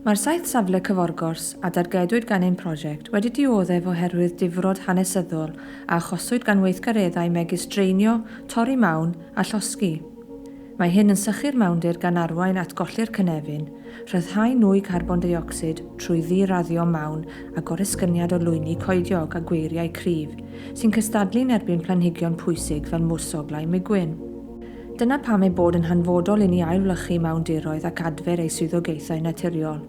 Mae'r saith safle cyforgors a dargedwyd gan ein prosiect wedi dioddef oherwydd difrod hanesyddol a achoswyd gan weithgareddau megis draenio, torri mawn a llosgi. Mae hyn yn sychu'r mawndir gan arwain at golli'r cynefin, rhyddhau nwy carbon deuocsid trwy ddi-raddio mawn a goresgyniad o lwyni coediog a gweiriau cryf sy'n cystadlu'n erbyn planhigion pwysig fel mwrsoglau migwyn. Dyna pam ei bod yn hanfodol inni ailwlychu mawndiroedd ac adfer ei swyddogaethau naturiol.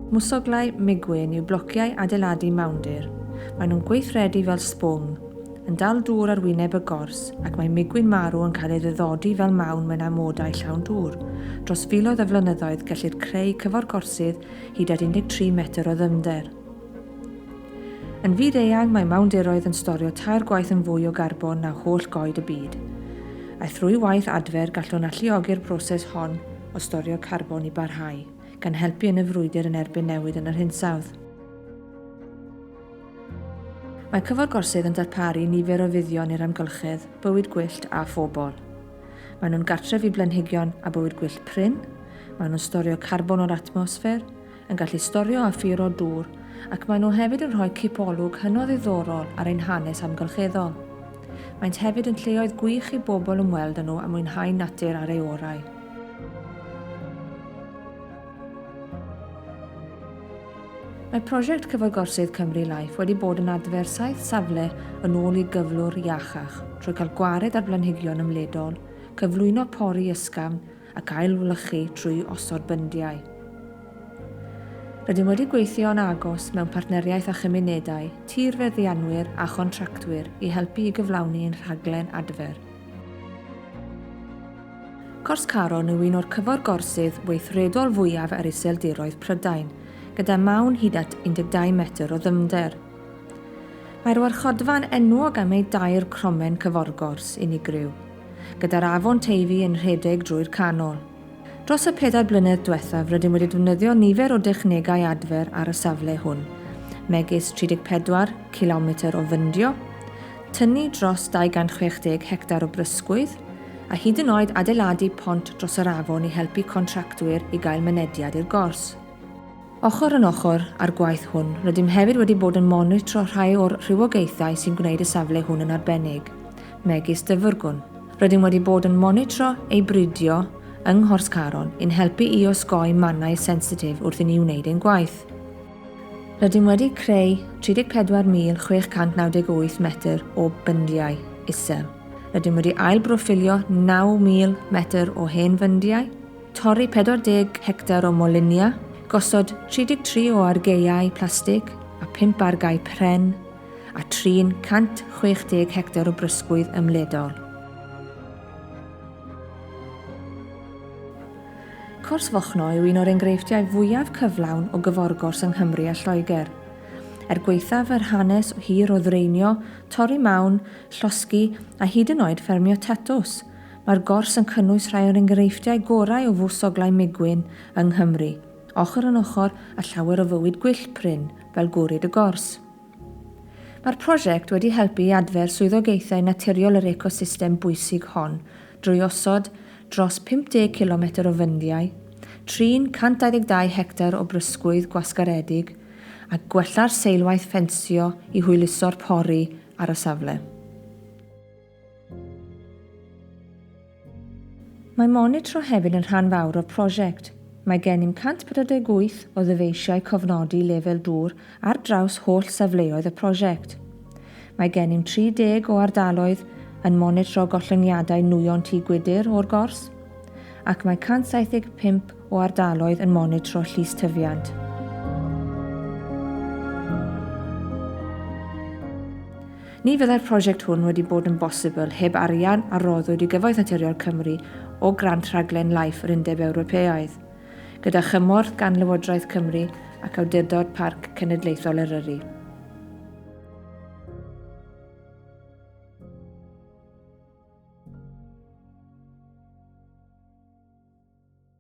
Mwsoglau migwyn yw blociau adeiladu mawndir. Maen nhw'n gweithredu fel sbwng, yn dal dŵr ar wyneb y gors, ac mae migwyn marw yn cael ei ddyddodi fel mawn mewn amodau llawn dŵr. Dros filoedd o flynyddoedd, gellir creu cyfforgorsydd hyd at 13 metr o ddyfnder. Yn fyd-eang, mae mawndiroedd yn storio tair gwaith yn fwy o garbon na holl goed y byd. A thrwy waith adfer, gallwn alluogi'r broses hon o storio carbon i barhau, gan helpu yn y frwydr yn erbyn newid yn yr hinsawdd. Mae Cyfo'r Gorsydd yn darparu nifer o fuddion i'r amgylchedd, bywyd gwyllt a phobl. Maen nhw'n gartref i blanhigion a bywyd gwyllt prin, maen nhw'n storio carbon o'r atmosffer, yn gallu storio a phuro dŵr ac maen nhw hefyd yn rhoi cipolwg hynod ddiddorol ar ein hanes amgylcheddol. Maent hefyd yn lleoedd gwych i bobl ymweld â nhw a mwynhau natur ar ei orau. Mae prosiect Cyfagorsydd Cymru Life wedi bod yn adfer saith safle yn ôl i gyflwr iachach trwy cael gwared ar blanhigion ymledol, cyflwyno pori ysgafn ac ailwlychu trwy osod byndiau. Rydym wedi gweithio yn agos mewn partneriaeth â chymunedau, tirfeddianwyr a chontractwyr i helpu i gyflawni ein rhaglen adfer. Cors Caron yw un o'r cyfforgorsydd weithredol fwyaf ar Iseldiroedd Prydain, gyda mawn hyd at 12 metr o ddyfnder. Mae'r warchodfa'n enwog am ei dair cromen cyforgors unigryw, gyda'r Afon Teifi yn rhedeg drwy'r canol. Dros y pedair blynedd diwethaf rydym wedi defnyddio nifer o dechnegau adfer ar y safle hwn, megis 34 cilometr o fyndio, tynnu dros 260 hectar o brysgwydd, a hyd yn oed adeiladu pont dros yr afon i helpu contractwyr i gael mynediad i'r gors. Ochr yn ochr â'r gwaith hwn, rydym hefyd wedi bod yn monitro rhai o'r rhywogaethau sy'n gwneud y safle hwn yn arbennig, megis dyfrgwn. Rydym wedi bod yn monitro ei bridio yng Nghors Caron i'n helpu i osgoi mannau sensitif wrth i ni wneud ein gwaith. Rydym wedi creu 34,698 metr o byndiau isel. Rydym wedi ail-broffilio 9,000 metr o hen fyndiau, Torri 40 hectar o molinia, gosod 33 o argaeau plastig a 5 argae pren, a trin 160 hectar o brysgwydd ymledol. Cors Fochno yw un o'r engreifftiau fwyaf cyflawn o gyforgors yng Nghymru a Lloegr. Er gwaethaf yr hanes hir o ddraenio, torri mawn, llosgi a hyd yn oed ffermio tatws, Mae'r gors yn cynnwys rhai o'r enghreifftiau gorau o fws oglau migwyn yng Nghymru, ochr yn ochr â llawer o fywyd gwyllt prin fel gwrid y gors. Mae'r prosiect wedi helpu i adfer swyddogaethau naturiol yr ecosystem bwysig hon drwy osod dros 50 cilometr o fyndiau, trin 122 hectar o brysgwydd gwasgaredig a gwella'r seilwaith ffensio i hwyluso'r pori ar y safle. Mae monitro hefyd yn rhan fawr o'r prosiect. Mae gennym 148 o ddyfeisiau cofnodi lefel dŵr ar draws holl safleoedd y prosiect. Mae gennym 30 o ardaloedd yn monitro gollyngiadau nwyon tŷ gwydr o'r gors, ac mae 175 o ardaloedd yn monitro llys tyfiant. Ni fyddai'r prosiect hwn wedi bod yn bosibl heb arian a roddwyd i Gyfoeth Naturiol Cymru o grant rhaglen Life yr Undeb Ewropeaidd, gyda chymorth gan Lywodraeth Cymru ac Awdurdod Parc Cenedlaethol Eryri.